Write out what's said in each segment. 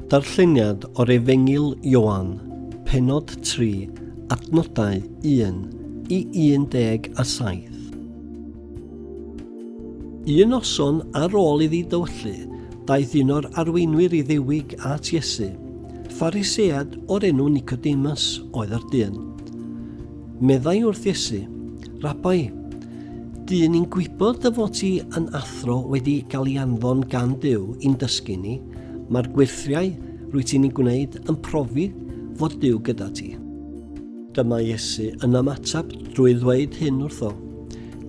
Darlleniad o'r Efengyl Ioan, pennod 3, adnodau 1 i 17. Un noson ar ôl iddi dywyllu, daeth un o'r arweinwyr i ddiwig at Iesu. Pharisead o'r enw Nicodemus oedd yr dyn. Meddai wrth Iesu, Rabai, dyn ni'n gwybod dy fod ti yn athro wedi cael ei anfon gan Duw i'n dysgu ni, mae'r gweithiau rwy ti'n ei gwneud yn profi fod Duw gyda ti. Dyma Iesu yn ymateb drwy ddweud hyn wrtho,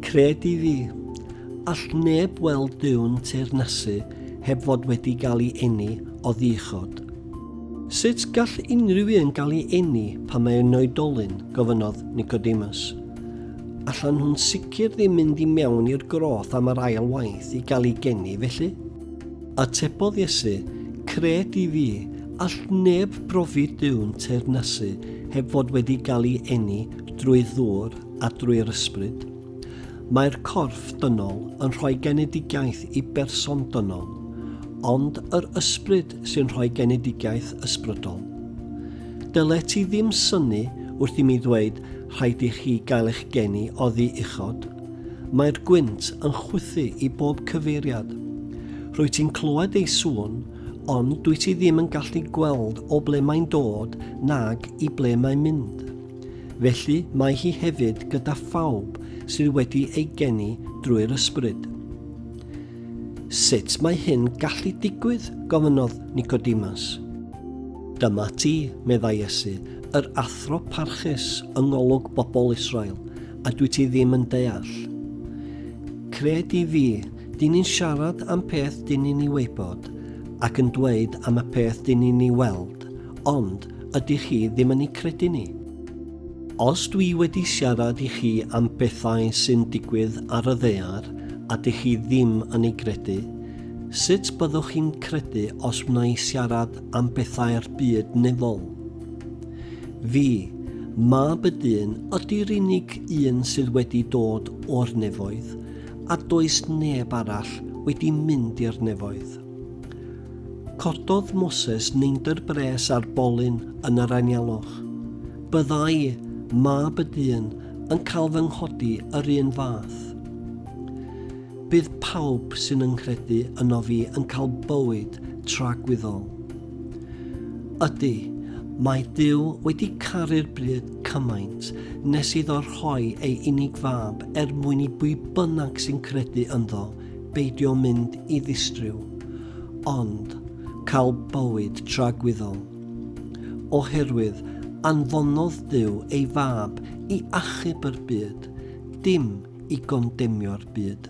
Cred i fi, all neb weld Duw'n teyrnasu heb fod wedi cael ei eni o ddichod. Sut gall unrhyw un gael ei eni pan mae yn oedolyn? gofynnodd Nicodemus. Allan nhw'n sicr ddim mynd i mewn i'r groth am yr ail waith i gael ei geni, felly? Atebodd Iesu, Cred i fi, all neb brofi Duw'n teyrnasu heb fod wedi gael ei eni drwy ddŵr a drwy'r ysbryd. Mae'r corff dynol yn rhoi genedigaeth i berson dynol, ond yr ysbryd sy'n rhoi genedigaeth ysbrydol. Dylet ti ddim synnu wrth i mi ddweud rhaid i chi gael eich geni oddi uchod. Mae'r gwynt yn chwythu i bob cyfeiriad. Rwyt ti'n clywed ei sŵn, ond dwyt ti ddim yn gallu gweld o ble mae'n dod nag i ble mae'n mynd. Felly mae hi hefyd gyda phawb sydd wedi ei geni drwy'r ysbryd. Sut mae hyn gallu digwydd? gofynnodd Nicodemus. Dyma ti, meddai Iesu, yr athro parchus yng ngolwg bobl Israel, a dwyt ti ddim yn deall? Cred i fi, dyn ni'n siarad am peth dyn ni'n ei wybod, ac yn dweud am y peth dyn ni'n ei weld, ond ydych chi ddim yn ei credu ni? Os dwi wedi siarad i chi am bethau sy'n digwydd ar y ddaear a dych chi ddim yn ei gredu, sut byddwch chi'n credu os wna i siarad am bethau'r byd nefol? Fi, mab y dyn, ydy'r unig un sydd wedi dod o'r nefoedd, a does neb arall wedi mynd i'r nefoedd. Cododd Moses neidr bres ar bolyn yn yr anialwch. Byddai mab y dyn yn cael fy nghodi yr un fath. Bydd pawb sy'n yngcredu yno fi yn cael bywyd tragwyddol. Ydy, mae Dyw wedi caru'r bryd cymaint nes iddo rhoi ei unig fab er mwyn i bwy bynnag sy'n credu ynddo beidio mynd i ddistryw, ond cael bywyd tragwyddol. Oherwydd anfonodd Duw ei Fab i achub yr byd, dim i gondemnio'r byd.